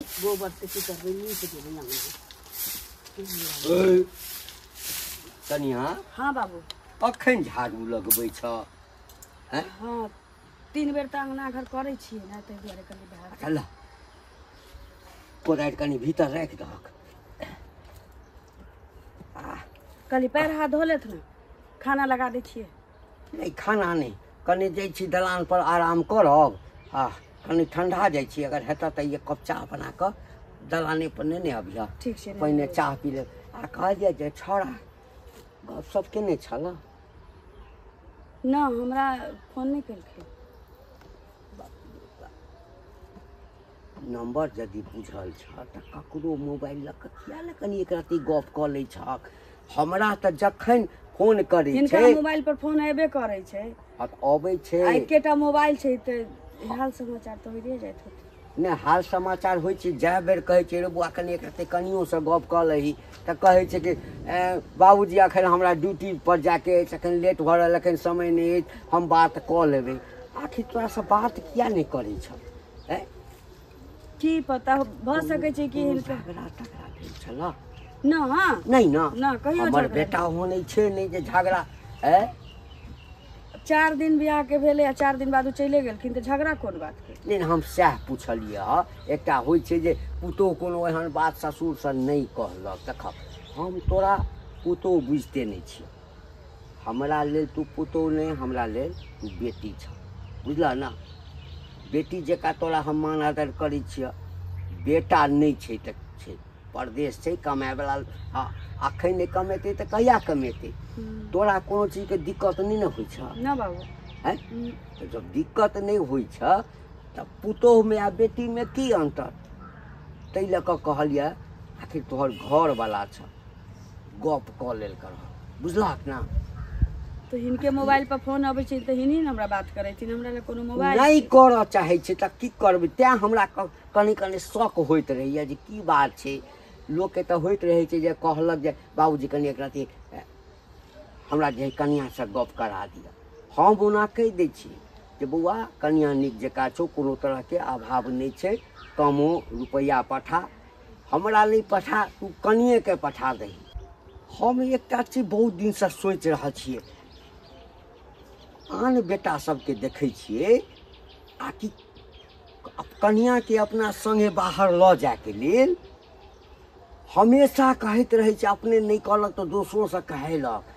गोबर से की करबे नीक देबे अंगना ए, कनिया हाँ बाबू अखन झाड़ू लगबै छ हाँ तीन बेर तऽ अंगना घर करै छियै ने ताहि दुआरे कनि बाहर अच्छा ल कोदारि कनि भीतर राखि दहक कनि पैर हाथ धो लेत ने खाना लगा दै छियै नहि खाना नहि कनि जाइ छी दलानपर आराम करब आ कनि ठंडा जाइ छी अगर हेतऽ तऽ एक कप चाह बना कऽ दलानेपर नहि ने अबिह ठीक छै पहिने चाह पी लेब आ कहलियै जे छौड़ा गपशप केने छल न हमरा फोन नहि केलखिन नम्बर यदि बुझल छह तऽ ककरो मोबाइल लऽ कऽ किया ने कनि एक रत्ती गप कऽ लै छह हमरा तऽ जखन फोन करै हिनका छै मोबाइल पर फोन अयबे करै छै आ अबै आ छै एकेटा मोबाइल छै तऽ हाल समाचार तऽ होइए जाइत होतै नहि हाल समाचार होइ छै जए बेर कहै छै रे बौआ कनि एक रत्ती कनियोसँ गप कऽ लही तऽ कहै छै कि "ए, बाबूजी एखन हमरा ड्यूटी पर जाके अछि एखन लेट भऽ रहल एखन समय नहि अछि हम बात कऽ लेबै आखिर तोरासँ बात किया नहि करै छह हैं? की पता हो- भऽ सकै छै कि कोनो हिनका झगड़ा तगड़ा भेल छलऽ ना हाँ नहि ने ना कहियो हमर झगड़ा बेटा ओहो नहि छै नहि जे झगड़ा है चार दिन बियाह के भेलै आ चार दिन बाद ओ चले गेलखिन तऽ झगड़ा कोन बात के नहि हम सएह पुछलियै हँ एकटा होइ छै जे पुतोह कोनो एहन बात ससुरसँ नहि कहलक देखब हम तोरा पुतोह बुझिते नहि छियै हमरा लेल तू पुतोह नहि हमरा लेल तू बेटी छ बुझलह ने बेटी जकाँ तोरा हम मान आदर करै छियह बेटा नहि छै तऽ छै परदेश छै कमायवला हँ अखन नहि कमेतै तऽ कहिया कमेतै तोरा कोनो चीजके दिक्कत नहि ने होइ छह ना बाबू हैं तो जब दिक्कत नहीं हुई छ तब पुतोह में आ बेटी में की अंतर ताहि लऽ कऽ कहलिए आखिर तोहर घर वाला छ गप कऽ लेल कर बुझलक ने तो हिनके मोबाइल पर फोन अबै छै तऽ हिनी ने हमरा बात करै छी हमरा लए कोनो मोबाइल नहि करऽ चाहै छै तऽ की करबै तैँ हमरा कनि कनि शौक होइत रहैए जे की बात छै लोकके तऽ होइत रहै छै जे कहलक जे बाबूजी कनि एक रति हमरा जे कनिआँसँ गप करा दिअ हम ओना कहि दै छी जे बौआ कनिआँ नीक जकाँ छौ कोनो तरहके अभाव नहि छै कमो रुपैआ पठा हमरा नहि पठा तू कनिएके पठा दही हम एकटा चीज बहुत दिनसँ सोचि रहल छियै आन बेटा सबके देखै छियै आ कि कनियाके अपना सङ्गे बाहर लऽ जायके लेल हमेशा कहैत रहै छै अपने नहि कहलक तऽ दोसरोसँ कहैलक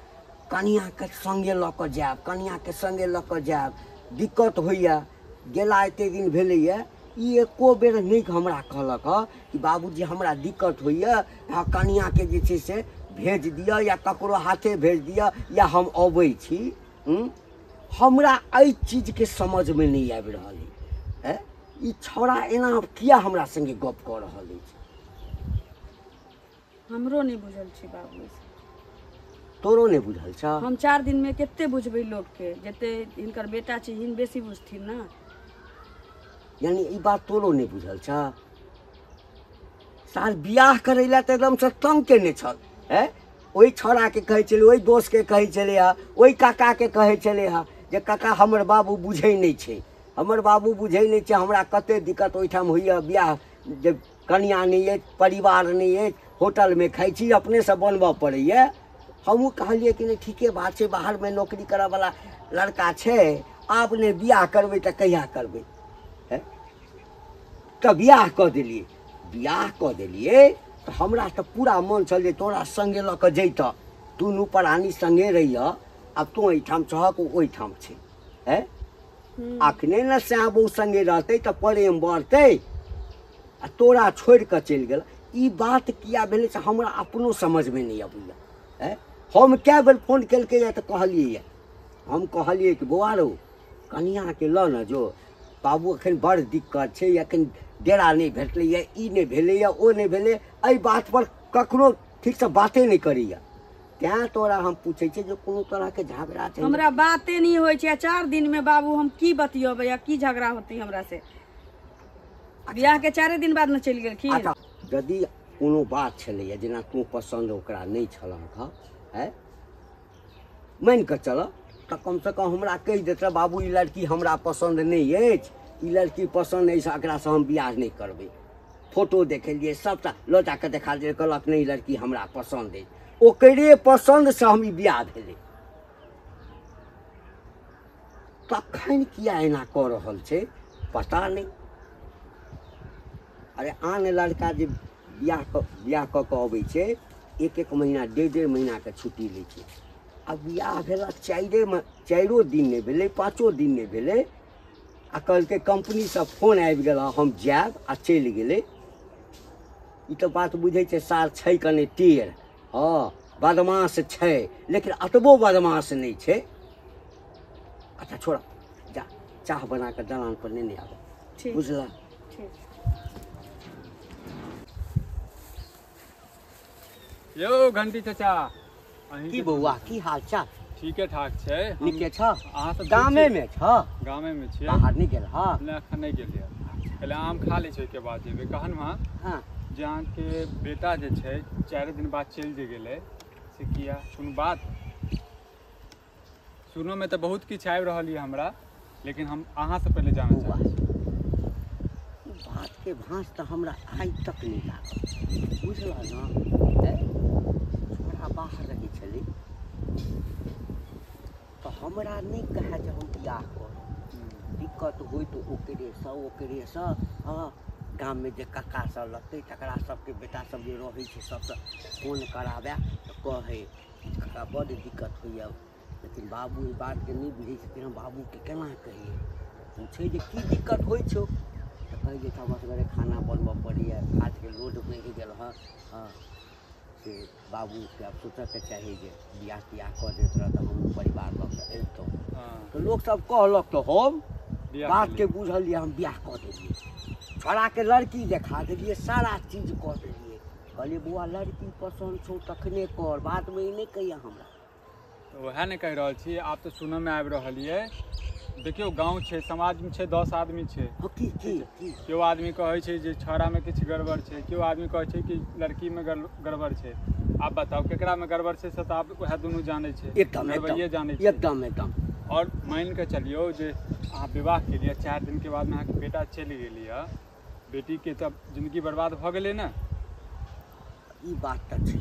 कनियाँके सङ्गे लऽ कऽ जायब कनियाँके सङ्गे लऽ कऽ जायब दिक्कत होइए गेला एते दिन भेलैए ई एको बेर नहि हमरा कहलक हँ कि बाबूजी हमरा दिक्कत होइए हँ कनियाँके जे छै से भेज दिअ या ककरो हाथे भेज दिअ या हम अबै छी हूँ? हमरा एहि चीजके समझमे नहि आबि रहल अइ ए? ई छौड़ा एना किया हमरा सङ्गे गप कऽ रहल अछि हमरो नहि बुझल छै बाबू ई सब। तोरो नहि बुझल छौ हम चारि दिनमे कते बुझबै लोकके जते हिनकर बेटा छै हिन बेसी बुझथिन ने यानी ई बात तोरो नहि बुझल छौ साल बियाह करै लए तऽ एकदमसँ तंग केने छल हे ओहि छौड़ाके कहै छलै ओहि दोस्तके कहै छलै हे ओहि काकाके कहै छलै हे जे काका हमर बाबू बुझै नहि छै हमर बाबू बुझै नहि छै हमरा कते दिक्कत ओहिठाम होइए बियाह जे कनिया नहि अछि परिवार नहि अछि होटलमे खाइ छी अपनेसँ बनबऽ पड़ैए हमहूँ कहलियै कि नहि ठीके बात छै बाहरमे नौकरी करऽवला लड़का छै आब नहि बियाह करबै तऽ कहिया करबै हैं? तऽ बियाह कऽ देलियै बियाह कऽ देलियै तऽ हमरा तऽ पूरा मन छल जे तोरा सङ्गे लऽ कऽ जैतऽ दुनू प्राणी सङ्गे रहियऽ आब तू एहिठाम छहक ओ ओहिठाम छै है अखने ने श्याम बहू संगे रहते तो प्रेम बढ़ते आ तोरा छोड़ के चल गल ई बात किया भेल से हमरा अपनो समझ में नहीं अबैया है हम क्या बेर फोन कल के या तो कहलिए हम कहलिए कि बौआ रो कनिया के ल न जो बाबू अखन बड़ दिक्कत छै अखन डेरा नहीं भेटलैए ई नहीं भेलैए ओ नहीं भेलै एहि बात पर ककरो ठीक से बाते नहीं करैया तैं तोरा हम पूछै छियै जे कोनो तरहके झगड़ा छै हमरा बाते नहि होइ छै चार दिनमे बाबू हम की बतियबै आ की झगड़ा होतै हमरा से बियाह के चारे दिन बाद ने चलि गेलखिन अच्छा यदि कोनो बात छलैए जेना तू पसन्द ओकरा नहि छलहक हँ है मानि कऽ चलऽ तऽ कमसँ कम हमरा कहि देतै बाबू ई लड़की हमरा पसन्द नहि अछि ई लड़की पसन्द अछि एकरासँ हम बियाह नहि करबै फोटो देखेलिए सबटा लऽ जाकऽ देखा दिए कहलक नहीं लड़की हमरा पसंद है ओकरे पसंद से हम ब्याह भेलै तखन किया एना कऽ रहल छै पता नहीं अरे आन लड़का जे ब्याह कऽ ब्याह कऽ कऽ अबै छै एक एक महीना डेढ़ डेढ़ महीनाके छुट्टी लै छै आ ब्याह भेला चारिए चारिओ दिन नहि भेलै पाँचो दिन नहि भेलै आ कहलकै कंपनीसँ फोन आबि गेल हँ, हम जायब आ चलि गेलै ई तऽ बात बुझै छै सार छै कने टेढ़ हँ बदमाश छै लेकिन अतबो बदमाश नहि छै अच्छा छोड़ जा चाह बना कऽ दलान पर नेने आबऽ ठीक बुझलह ठीक यो घंटी चाचा अहीं की के- बौआ की हाल चाल ठीके ठाक छै हम- नीके छ अहाँ सब गामे ठीक मे छ छी? गामे में छियै बाहर नहि गेल ह नहि एखन नहि गेलियै पहिले आम खा लै छै ओहिके बाद जेबै कहन हँ हँ जे अहाँके बेटा जे छै चारि दिन बाद चलि जे गेलै से किया कोनो बात सुनोमे तऽ बहुत किछु आबि रहल यऽ हमरा लेकिन हम अहाँसँ पहिले जानऽ बौआ चाहब ओ बातके भाँस तऽ हमरा आइ तक नहि लागल बुझलह ने छोड़ा बाहर रहै छलै तऽ हमरा नहि कहए जे हम बियाह करब दिक्कत होइ तऽ ओकरेसँ ओकरेसँ हँ गाममे जे कक्का सब लगतै तकरा सबके बेटा सब जे रहै छै सबसँ फोन कराबए तऽ कहै किछु कका बड्ड दिक्कत होइए लेकिन बाबू ई बातके नहि बुझै छथिन हम बाबूके केना कहियै पूछै जे की दिक्कत होइ छौ तऽ कहै जे हमरा सभके खाना बनबऽ पड़ैए हाथके लोड बढ़ि गेल हँ हँ से बाबूके आब सोचऽके चाही जे बियाह तियाह कऽ दैत रहऽ तऽ हमहूँ परिवार लऽ कऽ अबितहुँ हँ तऽ लोकसभ कहलक तऽ हम बियाह बातके केलियै। बुझलियै हम बियाह कऽ देलियै छोड़ाके लड़की देखा देलियै सारा चीज कऽ देलियै कहलियै बौआ लड़की पसन्द छौ तखने कर बादमे ई नहि कहिया हमरा तऽ वएह ने कहि रहल छी आब तऽ सुनऽमे आबि रहल ये देखियौ गाँव छै समाजमे छै दस आदमी छै हँ, की की की केओ आदमी कहै छै जे छौड़ामे किछु गड़बड़ छै केओ आदमी कहै छै कि लड़कीमे गड़- गड़बड़ छै आब बताउ केकरामे गड़बड़ छै से तऽ आब वएह दुनू जानै छै एकदम गड़बड़िए जानै एकदम छै एकदम एकदम आओर मानि कऽ चलियौ जे अहाँ विवाह केलियै चारि दिनके बादमे अहाँके बेटा चलि गेलियै बेटीके तऽ जिन्दगी बर्बाद भऽ गेलै ने ई बात तऽ छै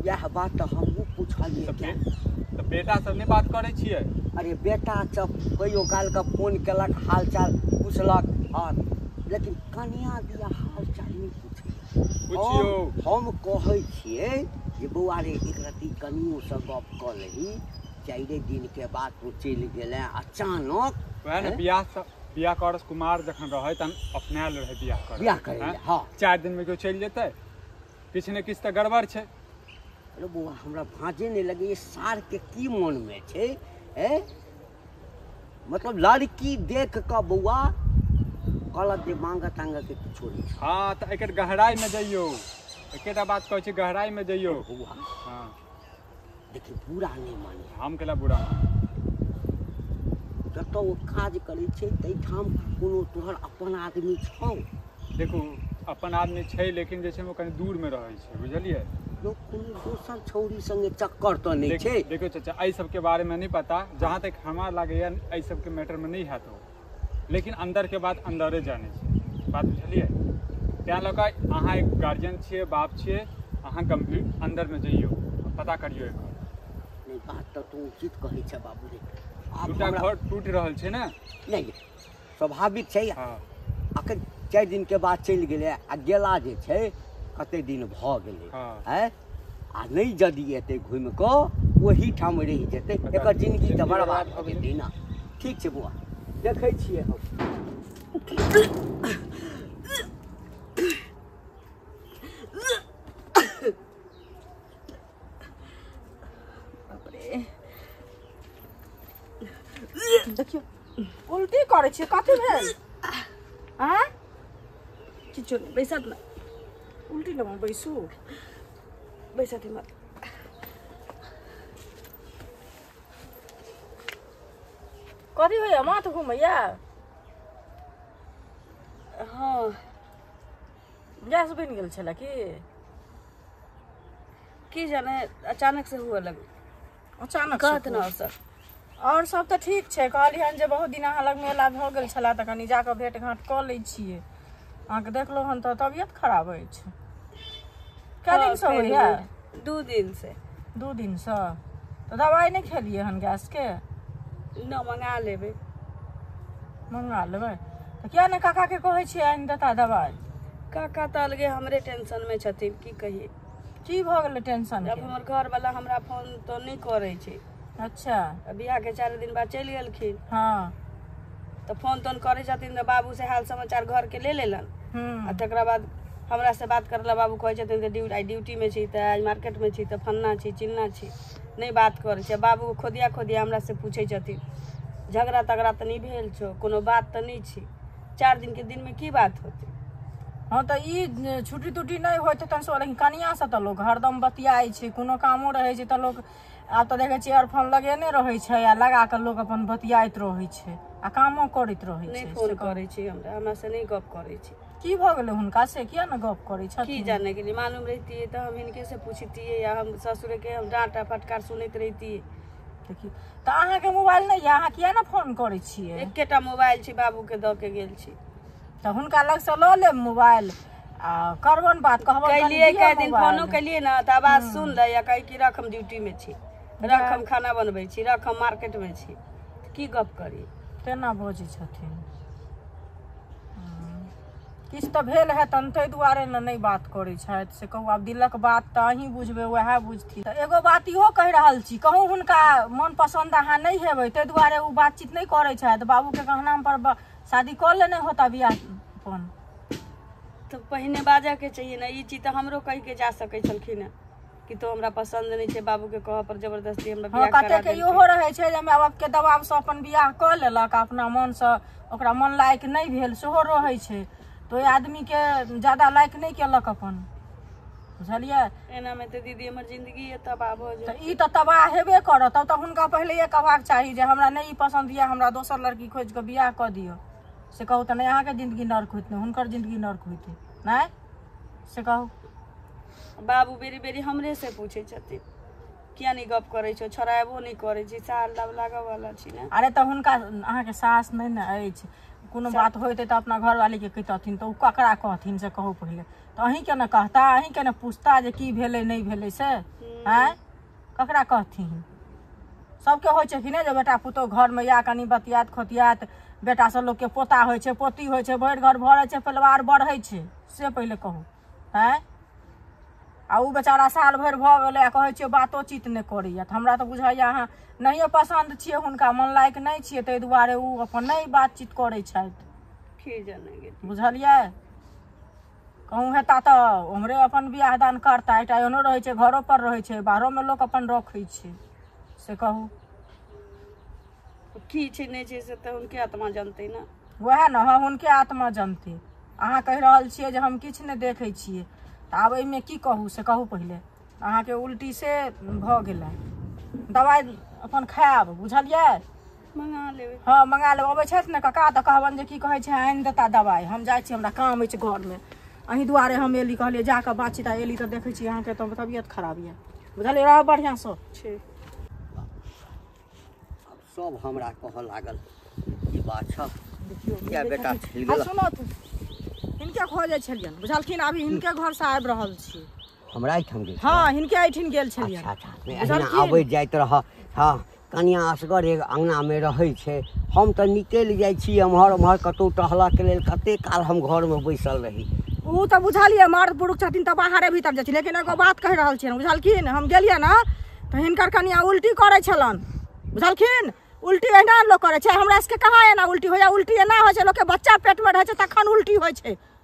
इएह बात तऽ हमहूँ पुछलियै तऽ तऽ बेटासँ नहि बात करै छियै अरे बेटा सब कहियो कालके फोन केलक हालचाल पुछलक आओर लेकिन कनिया दिया हालचाल नहि पुछियो हम कहै छियै जे बौआ रे एक रत्ती कनियोसँ गप कऽ लही चारिए दिनके बाद तू चलि गेलै अचानक वएह ने बियाह बियाह कर कुमार जखन रहै तहन अपनायल रहै बियाह कर बियाह करै लए, हँ। चारि दिन में केओ चलि जेतै किछु ने किछु तऽ गड़बड़ छै अरे बौआ हमरा भाँजे नहि लगे ई सार के की मन में छै ए मतलब लड़की देख कऽ बौआ कहलक जे मांगऽ तांगऽ के किछो नहि छै। हँ तऽ एकर गहराइ में जइयौ एकेटा बात कहै छै गहराइ में जइयौ बौआ हँ लेकिन बुरा नहि माने हम केला बुरा जतऽ ओ काज करै छै ताहिठाम कोनो तोहर अपन आदमी छौ देखू अपन आदमी छै लेकिन जे छै ओ कनि दूरमे रहै छै बुझलियै लोक कोनो दोसर छौरी संगे चक्कर तऽ नहि छै देखियौ चाचा एहि सबके बारेमे नहि पता जहाँ तक हमरा लागैए एहि सबके मैटरमे नहि हैत ओ लेकिन अन्दरके बात अन्दरे जानै छै बात बुझलियै तैँ लऽ कऽ अहाँ एक गार्जियन छियै बाप छियै अहाँ गम्भीर अन्दरमे जइयौ पता करियौ एकर नहि बात तऽ तू उचित कहै छै बाबू रे आब दूटा हमरा- घर टूटि रहल छै ने नहि नहि, स्वाभाविक छै हँ अखन चारि दिनके बाद चलि गेलै आ गेला जे छै कते दिन भऽ गेलै हँ। आँय आ नहीं जदि एते घूम को वही ठाम रह जते एक जिंदगी तो बर्बाद हो गई दीना ठीक छे बुआ देखे छे हम देखियो उल्टी करे छे कथि भेल हां किछो बैसत ना उल्टी ठाउँमा बैसु बैसाथीमा कति भयो म त घुम या गैस बनि गेल छलै कि की जाने अचानक से हुए लगे अचानक कहत ने सर आओर सब तऽ ठीक छै कहलियनि जे बहुत दिन अहाँ लग मेला भऽ गेल छलए तऽ कनि जाकऽ भेट घाँट कऽ लै छियै अहाँके देखलहुँ हन तऽ तबियत खराब अछि कए हँ, दिनसँ फेर होइए भेल। दू दिन से दू दिनसँ तऽ दवाइ नहि खेलियै हन गैसके न मंगा लेबै मंगा लेबै तऽ किया ने काकाके कहै छियै आनि देता दवाइ काका तऽ अलगे हमरे टेंशन में छथिन की कहिए की भऽ गेलै टेंशन जब हमर घरवला हमरा फोन तो नहि करै छै अच्छा आ बियाहके चारि दिन बाद चलि गेलखिन हँ तऽ फोन तोन करै छथिन तऽ बाबू से हाल समाचार घरके ले लेलन आ हूँ तकरा बाद हमरा से बात करला बाबू कहै छथिन कि ड्यूटी आइ ड्यूटीमे छी तऽ आइ मार्केटमे छी तऽ फन्ना छी चिन्ना छी नहि बात करै छै बाबू खोदिया खोदिया हमरा से पूछै छथिन झगड़ा तगड़ा तऽ नहि भेल छौ कोनो बात तऽ नहि छी चारि दिन के दिन में की बात होते हँ तऽ ई छुट्टी तुट्टी नहि होइ छै तहन लेकिन कनियासँ तऽ लोक हरदम बतियाइ छै कोनो कामो रहै छै तऽ लोक आब तऽ देखै छियै एयरफोन लगेने रहै छै आ लगा कऽ लोक अपन बतियाइत रहै छै आ कामो करैत रहै छै नहि फोन करै छै हमरा हमरा से नहि गप करै छै की भऽ गेलै हुनका से किया ने गप करै छथिन की जाने के लिए मालूम रहती तऽ हम इनके से पूछती या हम ससुर के हम डांटा फटकार सुनैत रहती देखियौ तऽ अहाँके मोबाइल नहि यऽ अहाँ किया ने फोन करै छियै एकेटा मोबाइल छै बाबूके दऽ के गेल छी तऽ हुनका लगसँ लऽ लेब मोबाइल आ करबन बात कहबन कनि कैलियै दिअ कए दिन मोबाइल। फोनो कैलियै ने तऽ आवाज सुन लै या कहै कि रख हम ड्यूटीमे छी रख हम खाना बनबै छी रख हम मार्केटमे छी की गप करी तेना बजै छथिन किछु तऽ भेल है तन ताहि दुआरे ने नहि बात करै छथि से कहू आब दिलक बात तऽ अहीं बुझबै वएह बुझथिन तऽ एगो बात इहो कहि रहल छी कहूँ हुनका मन पसन्द अहाँ नहि हेबै ताहि दुआरे ओ बातचीत नहि करै छथि बाबूके कहनाम पर ब- शादी कऽ लेने होता बियाह अपन तऽ पहिने बाजऽ के चाहिए ने ई चीज तऽ हमरो कहि के जा सकै छलखिन हेँ कि तो हमरा पसंद नहीं छै बाबू के कह पर जबरदस्ती हमरा हाँ बियाह कते करा के देलकै। इहो रहै छै जे माय बाप के दबाव से अपन बियाह कऽ लेलक आ अपना मन से ओकरा मन लायक नहि भेल सेहो रहै छै तऽ ओहि आदमी के ज्यादा लायक नहि केलक अपन बुझलियै एना में तो दीदी हमर जिंदगी ये तबाह हो जाए तऽ ई तऽ तबाह हेबे करत तब तऽ हुनका पहिलेहे कहबाक चाही जे हमरा नहि ई पसन्द यऽ हमरा दोसर लड़की खोजि कऽ बियाह कऽ दिअ से कहू तऽ नहि अहाँके जिन्दगी नर्क होइत नहि हुनकर जिन्दगी नर्क होइत नहि से कहू बाबू बेरी बेरी हमरे से पूछे छथिन किया नहीं गप करे छो छोड़ाबो नहीं करे छी साल लग लागऽ वाला छी ने अरे तऽ हुनका अहाँके सास नहि ने अछि कोनो बात होइतै तऽ अपना घरवालीके कहितथिन तऽ ओ ककरा कहथिन से कहू पहिले तऽ अहीँके ने कहता अहीँके ने पूछता जे की भेलै नहि भेलै से आँय ककरा कहथिन सबके होइ छै कि नहि जे बेटा पुतहु घरमे या कनि बतियात खोतियात बेटासँ लोकके पोता होइ छै पोती होइ छै भरि घर भरै छै परिवार बढ़ै छै से पहिले कहू आँय आ ओ बेचारा साल भरि भऽ गेलै आ कहै छियै बातोचीत नहि करैए तऽ हमरा तऽ बुझाइए अहाँ नहियो पसन्द छियै हुनका मन लायक नहि छियै ताहि दुआरे ओ अपन नहि बातचीत करै छथि की जाने गेली बुझलियै कहूँ हेता तऽ ओम्हरे अपन बियाह दान करता एकटा एहनो रहै छै घरो पर रहै छै बाहरोमे लोक अपन रखै छै से कहू की छै नहि छै से तऽ हुनके आत्मा जानतै ने वएह ने हँ हुनके आत्मा जनते अहाँ कहि रहल छियै जे हम किछु नहि देखै छियै तऽ आब एहिमे की कहू से कहू पहिले अहाँके उल्टी से भऽ गेलै दवाइ अपन खायब बुझलियै मंगा लेबै हँ मंगा लेबै अबै छथि ने कका तऽ कहबनि जे की कहै छै आनि देता दवाइ हम जाइ छी हमरा काम अछि घरमे अहीं दुआरे हम एली कहलियै जा कऽ बाँची ता एली तऽ देखै छी अहाँके तऽ तबियत खराब यऽ बुझलियै रहब बढ़िआँसँ ठीक सब हमरा कहऽ लागल की बात छ देखियौ किया बेटा छील आ गेलह? सुनत हिनके खोजै छलियनि बुझलखिन अभी हिनके घरसँ आबि रहल छी हमरा एहिठाम गेल छलहुँ। हँ हिनके एहिठिन गेल अच्छा छलियै अच्छा नहि, अहिना बुझलखिन? अबैत जाइत रह हँ कनिया असगर एक अङ्गनामे रहै छै हम तऽ निकलि जाइ छी एम्हर ओम्हर कतहु टहलऽके लेल कतेक काल हम घरमे बैसल रही ओ तऽ बुझलियै मर्द पुरुष छथिन तऽ बाहरे भीतर जाइ छी लेकिन एगो बात कहि रहल छियनि बुझलखिन हम गेलियै ने तऽ हिनकर कनिया उल्टी करै छलन बुझलखिन उल्टी एहिना लोक करै छै हमरा सबके कहाँ एना उल्टी होइया उल्टी एना होइ छै लोकके बच्चा पेटमे रहै छै तखन उल्टी होइ छै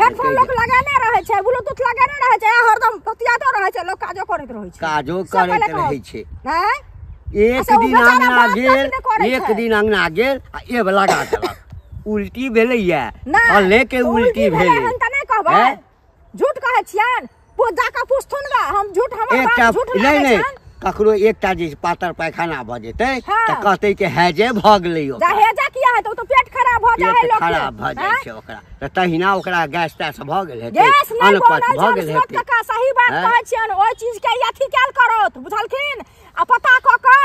हेडफोन लोक लगेने रहै छै ब्लूटूथ लगेने रहै छै हरदम बतियातो रहै छै लोक काजो करैत रहै छै काजो सब करैत पहिले रहै कहत। छै हैं? एक अच्छा, ओ दिन बेचारा अंगना बात गेल काटने करै एक छै। दिन अंगना गेल आ एब लगा देलक उल्टी भेलैया नहि, फले के ओ उल्टी भेलै हन तऽ नहि कहबै हैं? झूठ कहै छियनि वो जाका पूछथुन गा हम झूठ हमर एकटा बाप झूठ नहि लागै नहि छन ककरो एकटा जे पातर पैखाना भऽ जेतै हँ। तऽ कहतै कि है जे भऽ गेलै जा ओकरा। हेजा किया हेतौ ओ तऽ पेट खराब भऽ जाइ है पेट लोक खराब भऽ जाइ छै ओकरा तऽ तहिना ओकरा गैस तैस भऽ गेल हेतै गैस नहि अनपच बनल भऽ छन गेल सुमत हेतै काका सही बात हँ। कहै छियन ओहि चीज के अथी कैल करत बुझलखिन आ पता कऽ कऽ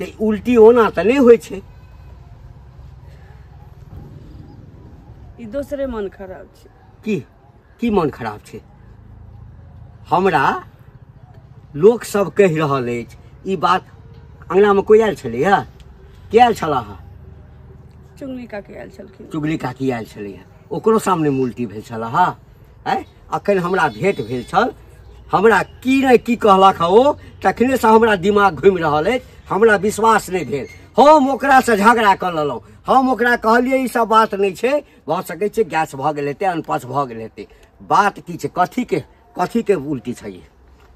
तऽ उल्टी ओना तऽ नहि होइ छै ई दोसरे मन खराब छै की की मन खराब छै हमरा लोक सब कहि रहल अछि ई बात अङ्गनामे कोइ आयल छलैए के आयल छला हँ चुंगली काके आयल छलखिन चुगली काकी आयल छलैए ओकरो सामने उल्टी भेल छला हँ आँय अखन हमरा भेंट भेल छल हमरा की नहि की कहलक हँ ओ तखनेसँ हमरा दिमाग घुमि रहल अछि हमरा विश्वास नहि भेल हम ओकरासँ झगड़ा कऽ लेलहुँ हम ओकरा कहलियै ई सब बात नहि छै भऽ सकै छै गैस भऽ गेल हेतै अनपच भऽ गेल हेतै बात की छै कथीके कथीके उल्टी छै ई?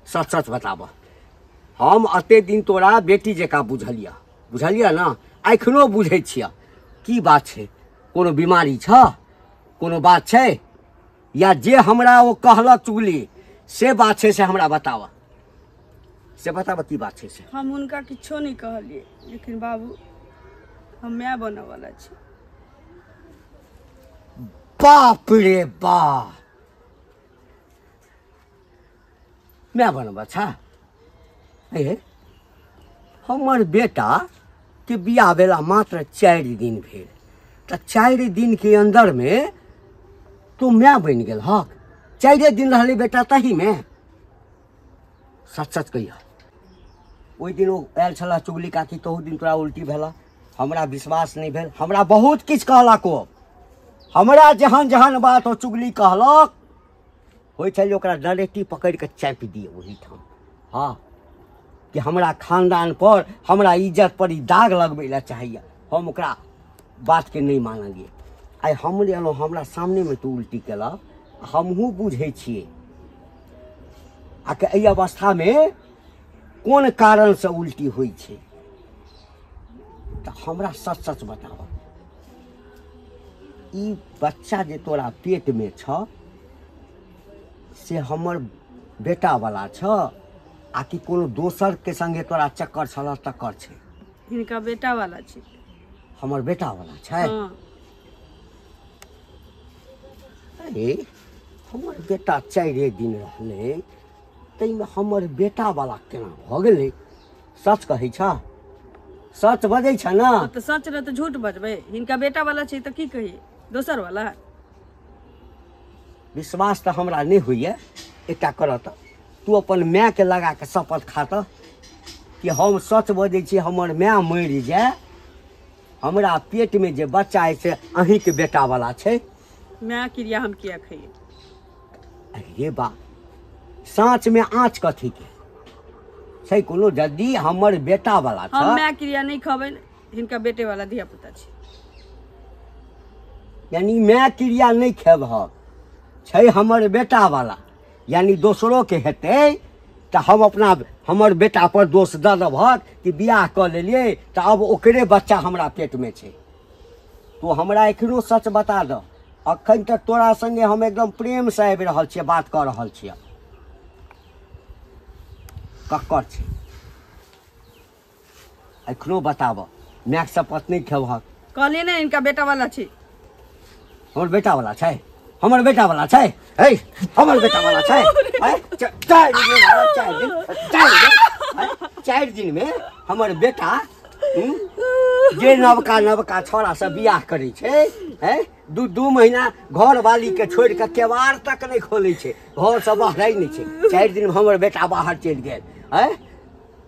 सच सच बताबह हम एते दिन तोरा बेटी जकाँ बुझलिया बुझलिया ने एखनो बुझै छिया की बात छै कोनो बीमारी छ कोनो बात छै या जे हमरा ओ कहलक चुगली से बात छै से हमरा बताबऽ से बताबऽ की बात छै से हम हुनका किछो नहि कहलियै लेकिन बाबू हम माय बनऽ वाला छी बाप रे बाप माय बनबा छा हे हमर बेटा के बियाह भेला मात्र चारि दिन भेल तऽ चारि दिन के अंदर मे तू माय बनि गेल हक चारिए दिन रहले बेटा तही मे सच सच कहिया ओहि दिन ओ आयल छला चुगली काकी तहू दिन तोरा उल्टी भेला हमरा विश्वास नहि भेल हमरा बहुत किछु कहलक ओ हमरा जहन जहन बात ओ चुगली कहलक होइ छलै ओकरा डरेटी पकड़ि कऽ चापि दिए ओहीठाम हँ कि हमरा खानदान पर हमरा इज्जत पर ई दाग लगबै लए चाहैए हम ओकरा बातके नहि मानलियै आइ हम जे एलहुँ हमरा सामनेमे तू उल्टी केलक हमहूँ बुझै छियै आ कि एहि अवस्थामे कोन कारणसँ उल्टी होइ छै तऽ हमरा सच सच बताबऽ ई बच्चा जे तोरा पेटमे छ से हमर बेटावला छ आ कि कोनो दोसरके सङ्गे तोरा चक्कर छल तक्कर छै हिनका बेटावला छै हमर बेटावला छै हँ अरे हमर बेटा चारिए दिन रहलै ताहिमे हमर बेटावला केना भऽ गेलै सच कहै छ सच बजै छ न अब तऽ सच रहे तऽ झूठ बजबै हिनका बेटा वाला छै तऽ की कही दोसर वाला विश्वास तऽ हमरा नहि होइए एकटा करऽ तऽ तू अपन मायके लगा कऽ शपथ खा तऽ कि हम सच बजै छी हमर माय मरि जाय हमरा पेटमे जे बच्चा अछि से अहीँके बेटावला छै माय क्रिया हम किया खइए अरे ये बा साँच में आँच कथी के छै कोनो यदि हमर बेटा वाला हम छ माय क्रिया नहीं खबै हिनका बेटे वाला धिया पुता छी यानी मैं क्रिया नहीं खेब हम छै हमर बेटा वाला यानी दोसरो के हेतै तऽ हम अपना हमर बेटा पर दोष दऽ देबहक कि बियाह कऽ लेलियै तऽ अब ओकरे बच्चा हमरा पेट में छै तू हमरा एखनो सच बता दऽ अखन तक तोरा संगे हम एकदम प्रेम से आबि रहल छियै बात कऽ रहल छियै ककर छै एखनो बताबऽ मायसँ पत्नी खेबहक कहलियै ने इनका बेटा वाला छी हमर बेटा वाला छै हमर बेटा वाला छै है हमर बेटा वाला छै हैं? च- चारि दिन में मारब, चारि दिन चारि दिन हैं? चारि दिन में हमर बेटा हूँ, जे नवका नवका छौड़ा से बियाह करै छै हैं दू दू महीना घर वाली के छोड़ के केवार तक नहीं खोले छै घर से बाहर नहीं छै चारि दिन में हमर बेटा बाहर चलि गेल हैं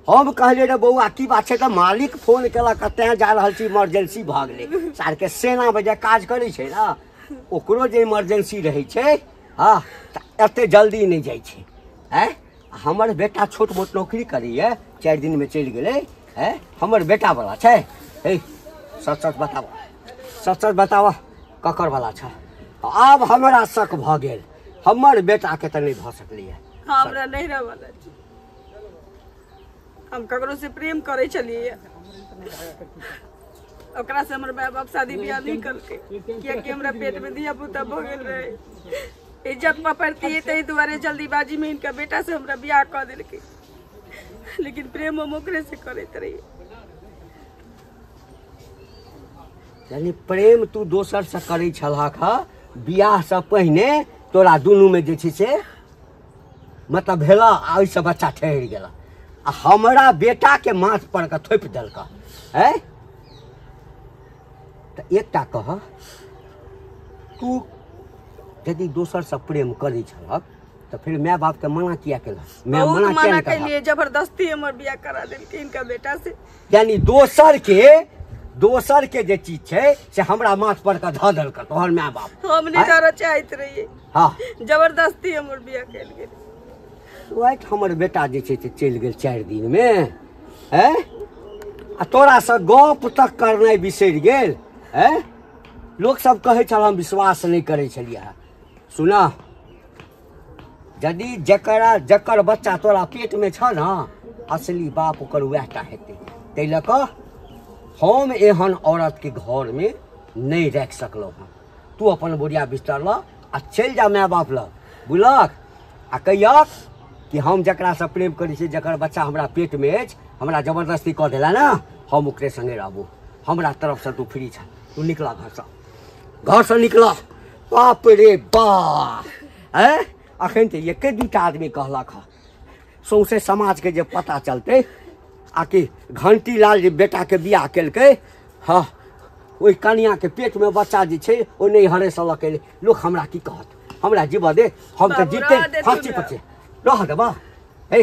हम कहलिए रे बौआ की बात छै तऽ मालिक फोन केलक तेँ जा रहल छी इमरजेंसी भऽ गेलै सारके सेना बजे काज करै छै ने ओकरो जे इमरजेंसी रहै छै हँ तऽ एतेक जल्दी नहि जाइ छै आँय हमर बेटा छोट मोट नौकरी करैए चारि दिनमे चलि गेलै आँय हमर बेटावला छै हे सच सच बताबऽ सच सच बताबऽ ककरवला छ आब हमरा शक भऽ गेल हमर बेटाके तऽ नहि भऽ सकलैए हमरा नैहरा वाला छै हम ककरो से प्रेम करे छलिए ओकरा से हमर माय बाप शादी ब्याह नहीं करके कियाकि हमरा पेट में दिया पुता भऽ गेल रहे इज्जत पर पड़ती है ताहि दुआरे जल्दीबाजी में इनका बेटा से हमरा ब्याह कऽ देलकै लेकिन प्रेम हम ओकरे से करैत रहिए यानी प्रेम तू दोसर से करै छलहक ह बियाह से पहिने तोरा दुनू में जे छै से मतलब भेल आ ओहिसँ बच्चा ठहरि गेल आ हमरा बेटाके माथ पर के थोपि देलक है तऽ एकटा कह तू यदि दोसरसँ प्रेम करै छलक तऽ फिर माय बापके मना किया केलक माय बहुत मना किया मना नहि केलक कैलिए जबरदस्ती हमर बियाह करा देलकै इनका बेटा से यानी दोसरके दोसरके जे चीज छै से हमरा माथ पर के धऽ देलकै तोहर माय बाप हम नहीं डर चाहते रहिए हाँ जबरदस्ती हमर बिया कल गए राति हमर बेटा जे छै से चलि गेल चारि दिनमे हैं आ तोरासँ गप तक करनाइ बिसरि गेल हैं लोकसभ कहै छल हम विश्वास नहि करै छलियै सुना यदि जकरा जकर बच्चा तोरा पेटमे छ ने असली बाप ओकर उएहटा हेतै ताहि लऽ कऽ हम एहन औरतके घरमे नहि राखि सकलहुँ हँ तू अपन बोरिया बिस्तर लऽ आ चलि जा माय बाप लग बुझलक आ कहियक कि हम जकरासँ प्रेम करै छी जकर बच्चा हमरा पेटमे अछि हमरा जबरदस्ती कऽ देला ने हम ओकरे सङ्गे रहबू हमरा तरफसँ तू फ्री छ तू निकला घरसँ घर से निकल बाप रे बा है अखन तऽ एके दूटा आदमी कहलक हँ सौंसे समाजके जे पता चलतै आ कि घंटी लाल जे बेटाके बियाह केलकै हँ ओहि कनियाके पेटमे बच्चा जे छै ओ नहि हरेसँ लऽ के लोक हमरा की कहत हमरा जीबऽ दे हम तऽ बाबू, जीते रहऽ दे तू फाँसी ने। पर छै रहऽ देबऽ हे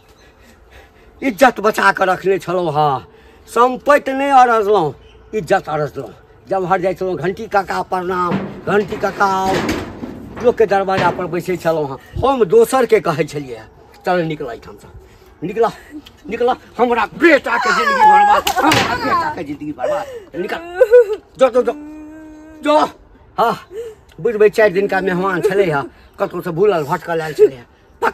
इज्जत बचा कऽ रखने छलहुँ हँ सम्पत्ति नहि अरजलहुँ इज्जत अरजलहुँ जमहर जाइ छलहुँ घण्टी काका प्रणाम घण्टी काका आउ लोकके दरवाजापर बैसै छलहुँ हँ हम दोसरके कहै छलियै हँ, चल निकल एहिठामसँ निकल निकल हमरा बेटाके जिन्दगी बर्बाद हमरा बेटाके जिन्दगी बर्बाद निकल जो जो जो जो हँ बुझबै चारि दिनका मेहमान छलै हँ कतहुसँ भूलल भटकल आयल छलै हँ